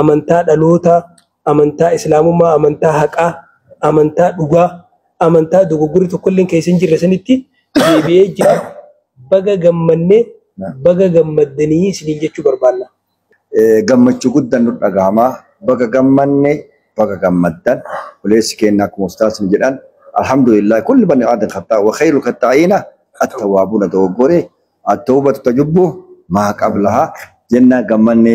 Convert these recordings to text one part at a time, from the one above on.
amantaa dhalootaa, amantaa islaamummaa, amantaa haqaa, amantaa dhugaa, amantaa dogoggorri tokkolleen keessa hin jirre sanitti deebi'ee jira. Baga gammanne, baga gammaddanii isiniin jechuu barbaanna. Gammachuu guddaan nu dhagahama. Baga gammanne, baga gammaddan. Obboleessi keenya akkuma ustaasni jedhan alhamdulillah kulli bani aadan khattaa wa khayru khattaa'iina attawaabuuna dogoggore attawbatu tajubbu maa qablaha jennaan gammanne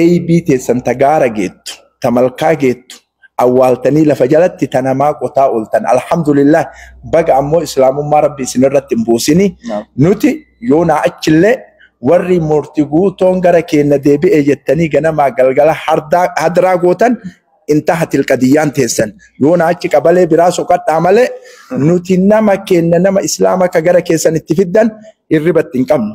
Eeybii teessan ta gaara geettu, ta malkaa geettu awwaaltanii lafa jalatti ta namaa qotaa ooltan Alhamdulillaah baga ammoo Islaamummaa Rabbi isinirratti hin buusini. Nuti yoonaa achillee warri Murti Guutoon gara keenna deebi'e jettanii ganamaa galgala hadraa gootan Intahatil qadiyyaan teessan. Yoonaa achi qabalee biraa soqadhaa malee nuti nama keenna nama Islaama ka gara keessan itti fiddan hirribatti hin qabnu.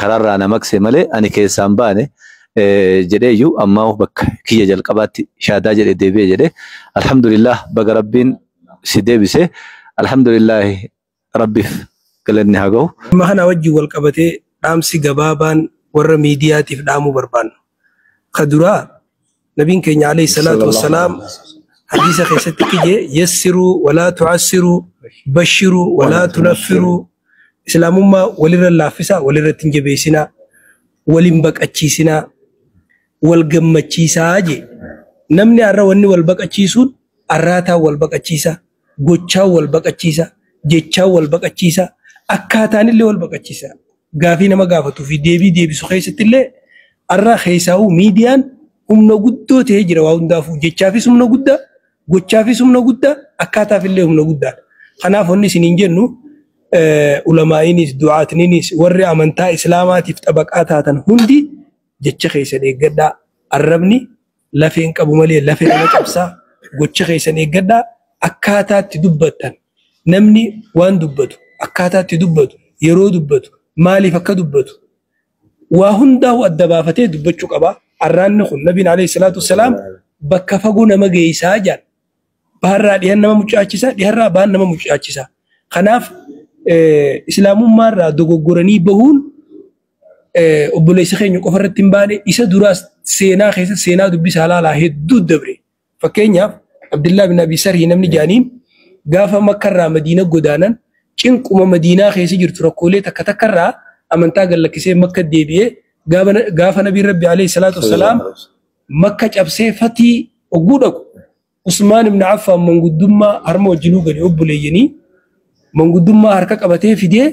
karaarraa na maqse malee ani keessaan baane jedhee iyyuu ammaa bakka kiyya jalqabaatti shaadaa jedhe deebi'e jedhe alhamdulillah baga rabbiin si deebise alhamdulillah rabbiif galanni haa gahu. Dhimma kana wajjin wal qabatee dhaamsi gabaabaan warra miidiyaatiif dhaamuu barbaannu ka duraa Nabiin keenya alayhi salaatu wassalaam hadiisa keessatti kiyye yassiruu walaa tu'assiruu bashiruu walaa tunaffiruu islaamummaa walirra laaffisaa walirratti hin jabeessinaa walin baqachiisinaa wal gammachiisaa jee namni arra wanni wal baqachiisuun arraataan wal baqachiisa gochaan wal baqachiisa, jechaan wal baqachiisa, akkaataanillee wal baqachiisa. Gaafii nama gaafatuu fi deebii deebisu keessattillee har'a keessaahuu miidiyaan humna guddoo ta'ee jira waa hundaafuu. Jechaafis humna guddaa, gochaafis humna guddaa, akkaataafillee humna guddaadha. Kanaaf wanni isiniin jennu ulamaa'iinis, du'aatniinis, warri amantaa Islaamaatiif xabaqaa taatan hundi jecha keessan eeggadhaa. Arrabni. lafee hin qabu malee lafee nama cabsa gocha keessan eeggadhaa akkaataa itti dubbattan namni waan dubbatu akkaataa itti dubbatu yeroo dubbatu maaliif akka dubbatu waa hundaa'u adda baafatee dubbachuu qaba arraanni kun nabiin alayhi salaatu wassalaam bakka fagoo nama geeysaa jedhan baharraa dhihan nama mucaachisa dhiharraa baan nama mucaachisa kanaaf islaamummaarraa dogoggoranii bahuun obboleessa keenya qofa irratti hin baane isa duraas seenaa keessa seenaa dubbisaa laalaa hedduu dabre. Fakkeenyaaf Abdillaa bin Abi Sarhi namni jaaniin gaafa makkarraa madiina godaanan cinquma madiinaa keessa jirtu rakkoolee takka takkarraa amantaa gallakkisee makka deebi'ee gaafa nabiin rabbi alayhi salaatu wassalaam makka cabsee fatii ogguu dhaqu Usmaan ibn Affaan manguddummaa harma wajjinuu gadi obboleeyyanii manguddummaa harka qabatee fidee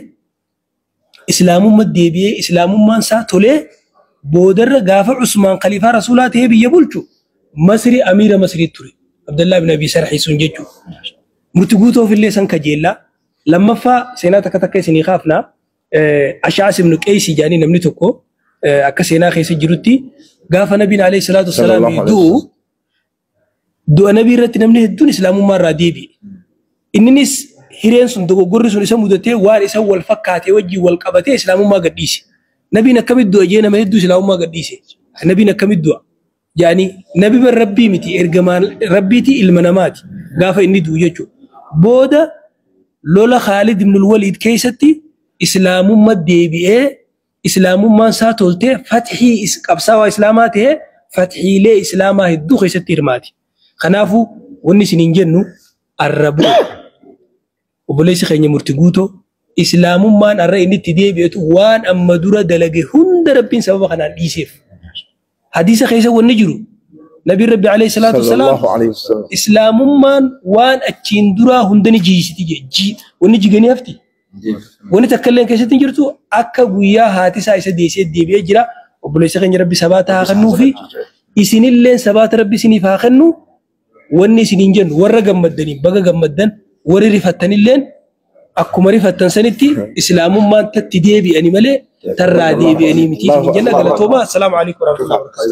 islaamumma deebi'ee islaamummaan isaa tolee boodarra gaafa Usmaan khaliifaa rasuulaa ta'ee biyya bulchu Masri amiira Masrii ture. Abdallaa bin Abii Sarhii sun jechuudha. Murti guutoof illee san kajeellaa. Lammaffaa seenaa takka takka isinii kaafna. Ash'as ibn Qeeysi jedhanii namni tokko akka seenaa keessa jirutti gaafa nabiin alayhi salaatu wassalaam du'u du'a nabii irratti namni hedduun islaamummaa irraa deebi'e. Inninis hireen sun dogoggorri sun isa mudatee waan isa wal fakkaatee wajjin wal qabatee islaamummaa gadhiise. Nabiin akkamitti du'a jee nama hedduu islaamummaa gadhiise. Nabiin akkamitti du'a? Yaani nabi bar rabbii miti ergamaan rabbiiti ilma namaati gaafa inni du'u jechuudha. Booda lola Khaalid ibn al-Waliid keessatti islaamumma deebi'ee Islaamummaan isaa toltee fathii is qabsaawaa Islaamaa ta'ee fathiilee Islaamaa hedduu keessatti hirmaate. Kanaafuu wanni isiniin jennu arra bor obboleessi keenya murti guutoo Islaamummaan arra inni itti deebi'etu waan amma dura dalage hunda Rabbiin sababa kanaan dhiiseef. Hadiisa keessa wanni jiru Nabiin Rabbi alayhi salaatu wasalaam Sallallahu alayhi wasallam. Islaamummaan waan achiin duraa hunda ni jiisiti jee jii wanni jiganii hafti. Wanni takka illee keessatti hin jirtu akka guyyaa haati isaa isa deessee deebi'ee jira. Obboleessa keenya Rabbi sabaata haa kennuu fi isinillee sabaata Rabbi isiniif haa kennu. wanni isiniin jennu warra gammaddaniin baga gammaddan warri rifattanilleen akkuma rifattan sanitti islaamummaan tatti deebi'ani malee tarraa deebi'anii miti isiniin jenna galatoomaa assalaamu alaikum warahmatullahi wabarakatuh.